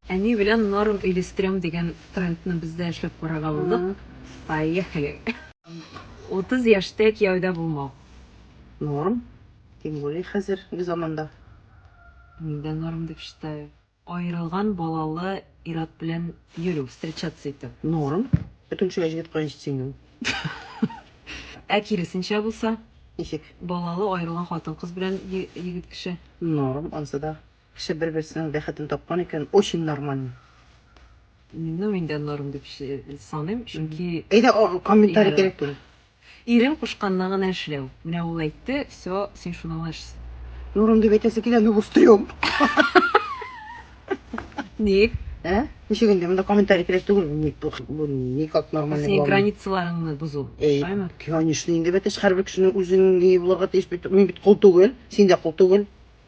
Әни белән норм өйлестерәм дигән трендны без дә эшләп карарга булдык. Поехали! Утыз яшьтә кияүдә булмау. Норм. Тем более хәзерге заманда. Мин дә норм дип считаю. Аерылган балалы ир-ат белән йөрү, встречаться итү. Норм. Бөтен кешегә җигет кая җитсен инде ул. Ә киресенчә булса? Ничек? Балалы, аерылган хатын-кыз белән егет кеше. Норм, анысы да. Кеше бер берсенең бәхетен тапкан икән, очень нормально. Ну мин дә норм дип саныйм, чөнки. Әйдә комментарий кирәк түгел. Ирең кушканны гына эшләү. Менә ул әйтте, все, син шуны гына эш. Нурым дип әйтәсе килә, ну бустрем. Ник? Ә? Ничек инде монда комментарий кирәк түгел, ник бу никак нормально. Синең границаларыңны бозу. Әйме? Конечно, инде бәтәш һәрбер кешенең үзенең ни булырга тиеш бит. Мин бит кол түгел, син дә кол түгел.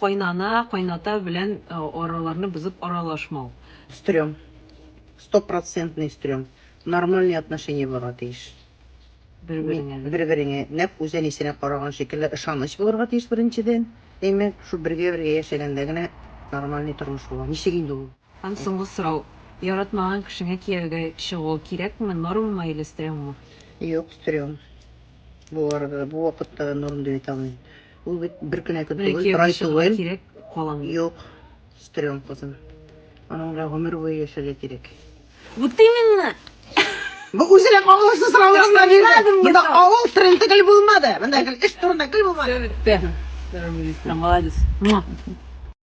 Кайнана, кайната белән араларны бозып аралашмау. Стрём. Стопроцентный стрём. Нормальный отношение булырга тиеш. Бер-береңә, да? Бер-береңә. Нәкъ үз әнисенә караган шикелле ышаныч булырга тиеш, беренчедән. Әйме, шул бергә-бергә яшәгәндә генә нормальный тормыш була. Ничек инде ул? Һәм соңгы сорау. Яратмаган кешеңә кияүгә чыгу кирәкме, нормамы или стрёммы? Юк, стрём. Бу арада да, бу вакытта да норм дип әйтә алмыйм. Ул бит бер кенә көт түгел, бер ай түгел. Кирәк каламы? Юк. Стрём кызым. Аның белән гомер буе яшәргә кирәк. Вот именно. Бу үзенә кагылышлы сораулар гына бирде. Монда авыл тренды гел булмады. Монда гел эш турында гел булмады. Все, бетте. Молодец.